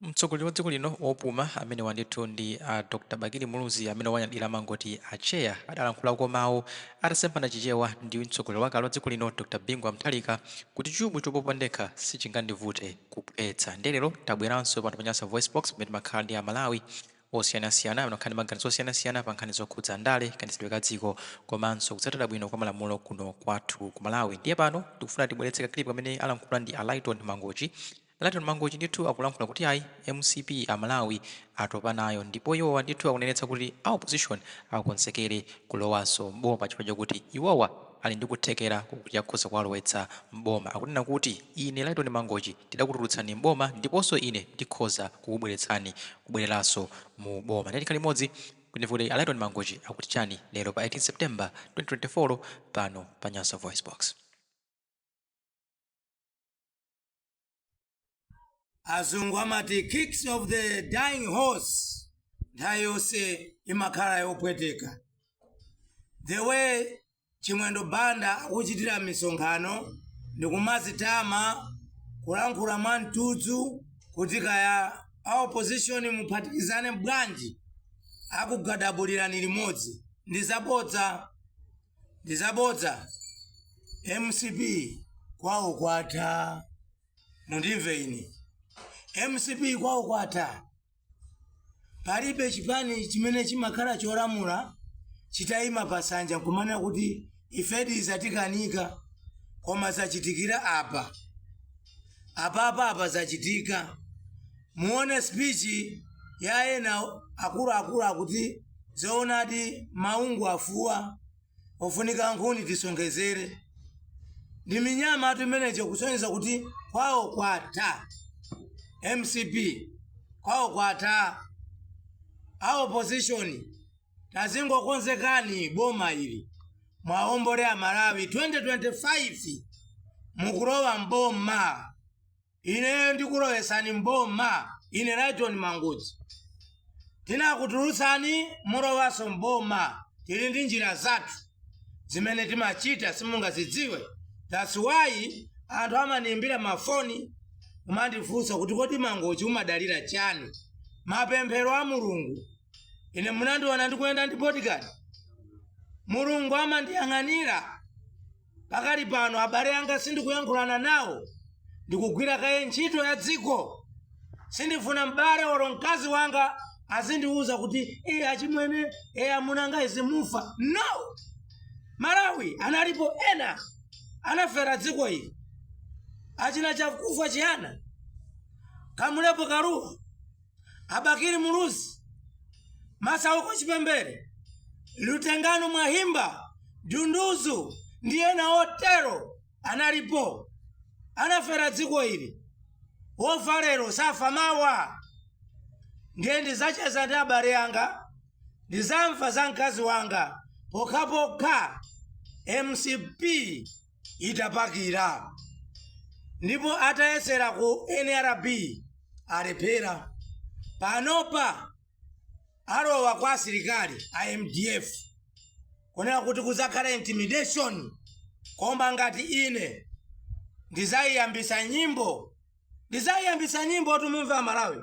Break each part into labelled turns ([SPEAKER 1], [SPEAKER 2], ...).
[SPEAKER 1] Mtsogoleri wa dziko lino wopuma amenewa ndithu ndi a Dr Bakili Muluzi amene owanyadira amangoti a Chair. Adalankhulako mawu atasemphana chichewa ndi mtsogoleri wakale wa dziko lino Dr Bingu wa Mutharika kuti chubu chopopa ndekha sichingandivute kuphwetsa nde lero tabweranso pano pa Nyasa VoiceBox pamene timakhala ndi a Malawi osiyanasiyana amene amakhala ndi maganizo osiyanasiyana pa nkhani zokhudza ndale, kayendetsedwe ka dziko komanso kutsatira bwino kwa malamulo kuno kwathu ku Malawi. Ndiye pano tikufuna tibweretse ka clip kamene alankhula ndi a Lyton Layton Mangochi ndithu akulankhula kuti ayi mcp amalawi atopa nayo ndipo iwowa ndithu akunenetsa kuti a opposition akonzekere kulowanso m'boma chifukwa chakuti iwowa ali ndi kuthekera kokuti akhoza kuwalowetsa m'boma. Akunena kuti ine Layton Mangochi tidakutulutsani m'boma ndiponso ine ndikhoza kukubweretsani kubwereranso mu boma. Ndiye tikhale limodzi kuti timve kuti a Layton Mangochi akuti chani lero pa 18 September 2024 pano pa Nyasa VoiceBox.
[SPEAKER 2] azungu amati kicks of the dying horse nthawi yonse imakhala yopweteka the way chimwendo banda akuchitira misonkhano ndikumazitama kulankhula mwa mtudzu kuti kaya a opposition muphatikizane bwanji akugadabulirani limodzi ndi zabodza ndi zabodza mcp kwawo kwatha mundimve ine mcp kwawo kwatha palibe chipani chimene chimakhala cholamula chitayima pa nsanja nkumanena kuti ifedi zatikanika, koma zachitikira apa apapa apa zachitika muone speech ya ena akuluakulu akuti zoonadi maungu afuwa afunika nkhuni tisonkhezere ndi minyamatu imeneyo kusonyeza kuti kwawo kwatha mcp kwawo kwatha a opposition Tazingokonzekani boma ili mwaombole amalawi 2025 mukulowa mboma ineyo ndikulowesani mboma ine lighton mangochi tinakutulutsani mulowaso mboma tili ndi njira zathu zimene timachita simungazidziwe that's why anthu amaniimbira mafoni kumandifunsa kuti kodi Mangochi umadalira chani mapemphero a Mulungu ine munandiona ndikuyenda ndi bodyguard mulungu amandiyang'anira pakali pano abale anga sindikuyankhulana nawo ndikugwira kaye ntchito ya dziko sindifuna m'bale olo mkazi wanga azindiwuza kuti e achimwene e amunanga izi mufa no malawi analipo ena anafera dziko ili achina chakufwa chihana kamulepo kalua a bakili muluzi masauko chipembere lutengano mwahimba dunduzu ndi ena otero analipo anafera dziko ili wofa lero safa mawa ndiye ndizacheza ndi abale anga ndizamva za mkazi wanga pokhapokha mcp itapakira ndipo atayesera ku nrb alephera panopa alowa kwa asilikali a mdf kunena kuti kuzakhala intimidation koma ngati ine ndizayiyambisa nyimbo ndizayiyambisa nyimbo tumumve amalawi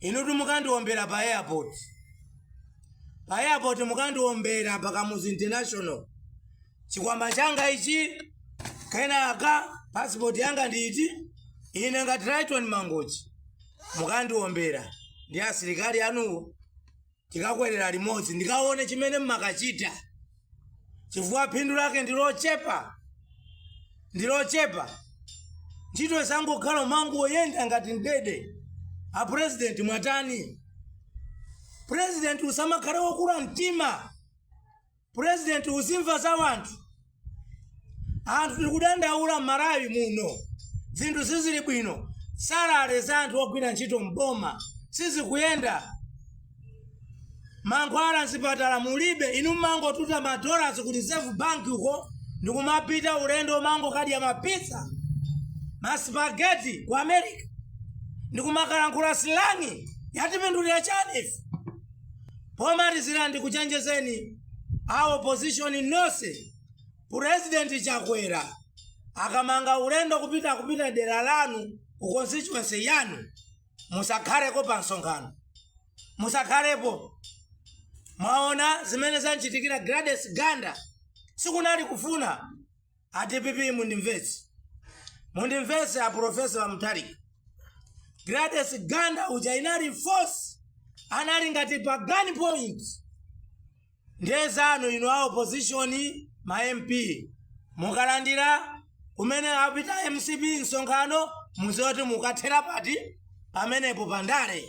[SPEAKER 2] inutu mukandiombera pa airport pa airport mukandiombera pa kamuzu international chikwama changa ichi kenaka passport yanga ndi iyi ine ngati Lyton mangochi mukandiombera ndi asilikali anuwo tikakwerera limodzi ndikaone chimene mmakachita chifukwa phindu lake ndi lochepa ndi lochepa ntchito zangokhala umangoyenda ngati ndege a purezidenti mwatani purezidenti usamakhale wokula mtima president uzimva za wanthu anthu tikudandaula mmalawi muno zinthu sizili bwino salale za anthu ogwira ntchito mboma sizikuyenda mankhwala mzipatala mulibe inu mmangotuta madolars ku reserve bank uko ndikumapita ulendo umangokadya mapizza masipageti ku america ndikumakalankhula silang'i yatipindulira chani ife Pomalizira ndikuchenjezeni a opposition nonse, President Chakwera akamanga ulendo kupita kupita dera lanu ku constituency yanu musakhaleko pa msonkhano. Musakhalepo. Mwaona zimene zamchitikira Gladys Ganda sikunali kufuna. a dpp mundimvetse mundimvetse a profesa mutharika gladys ganda uja inali force anali ngati pa gun point ndiye zanu inu a opposition ma mp mukalandira kumene apita mcp msonkhano muziwe kuti mukathera pati pamenepo pandale